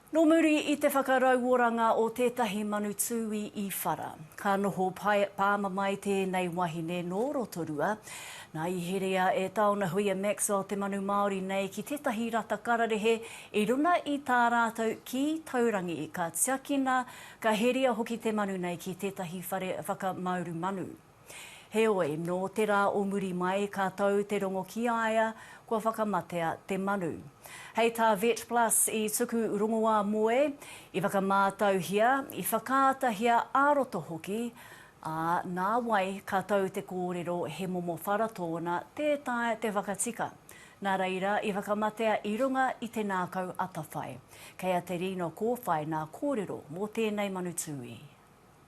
Nō muri i te whakarauoranga o tētahi manu tūī i whara, ka noho pāmamae tēnei wahine nō Rotorua. Nā, i herea e Tāona Huia Maxwell te manu Māori nei ki tētahi rata kararehe i runa i tā rātou kī taurangi, ka tiakina, ka herea hoki te manu nei ki tētahi whare whakamauru manu. Heoi, nō te rā o muri mai ka tau te rongo ki a ia kua whakamatea te manu. Hei tā VetPlus i tuku rongoā moe, i whakamātauhia, i whakaatahia ā-roto hoki, ā, nā wai ka tau te kōrero he momo whara tōna tē taea te whakatika. Nā reira, i whakamatea i runga i te nākau atawhai. Kei a Te Rino Kōwhai nā kōrero mō tēnei manu tūī.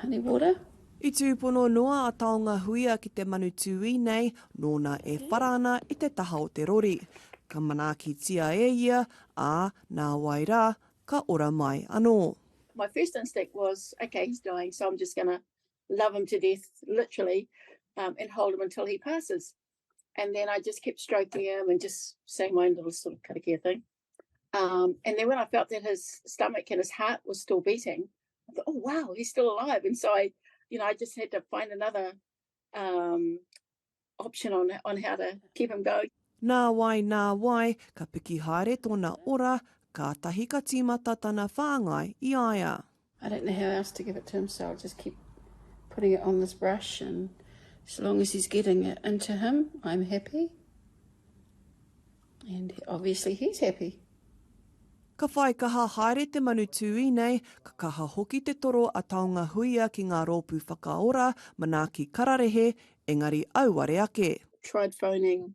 honey water. I tūpono noa a Taonga Huia ki te manu tūī nei, nōna e whara ana i te taha o te rori. Ka manaakitia e ia, ā, nā wai rā, ka ora mai anō. My first instinct was, ok, he's dying, so I'm just going to love him to death, literally, um, and hold him until he passes. And then I just kept stroking him and just saying my own little sort of karakia thing. Um, and then when I felt that his stomach and his heart was still beating, I thought, oh, wow, he's still alive. And so I, you know, I just had to find another um, option on, on how to keep him going. Nā wai, nā wai, ka piki haere tōna ora, kātahi ka tīmata tana whāngai i a ia. I don't know how else to give it to him, so I'll just keep putting it on this brush, and so long as he's getting it into him, I'm happy. And obviously he's happy. Ka whai kaha haere te manu tūī nei, ka kaha hoki te toro a Taonga Huia ki ngā rōpū whakaora, manaaki kararehe, engari auare ake. Tried phoning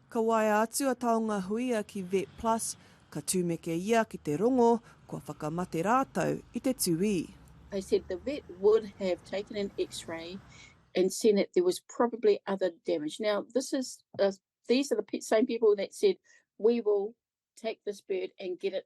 Ka waea atu a Taongahuia ki Vet Plus, ka tumeke ia ki te rongo kua whakamate rātou i te tuī. They said the vet would have taken an X-ray and seen that there was probably other damage. Now this is a these are the same people that said we will take this bird and get it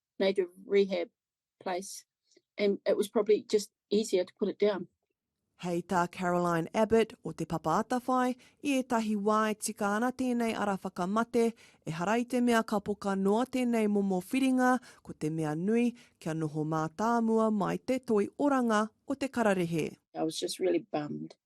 native rehab place and it was probably just easier to put it down. Hei tā Caroline Abbott o Te Papa Atawhai, i ētahi wā e tika ana tēnei ara whakamate, ehara i te mea ka poka noa tēnei momo whiringa, ko te mea nui, kia noho mātāmua mai te toi oranga o te kararehe. I was just really bummed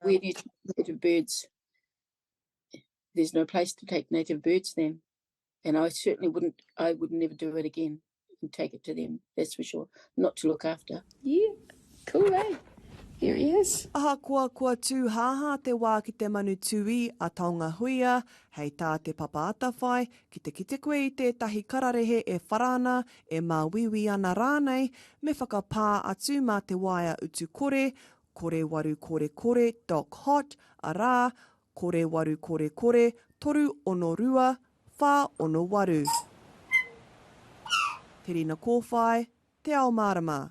where do you take native birds? There's no place to take native birds then. And I certainly wouldn't, I would never do it again and take it to them, that's for sure. Not to look after. Yeah, cool, eh? Here he is. Ahakoa kua tūhāhā te wā ki te manu tūī a Taongahuia, hei tā Te Papa Atawhai, ki te kite koe i tētahi kararehe e whara ana, e māuiui ana rānei, me whakapā atu mā te waea utu kore, korewarukorekore dot hot, arā, korewarukorekore toru ono rua whā ono waru. Te Rina Kōwhai, Te Ao Mārama.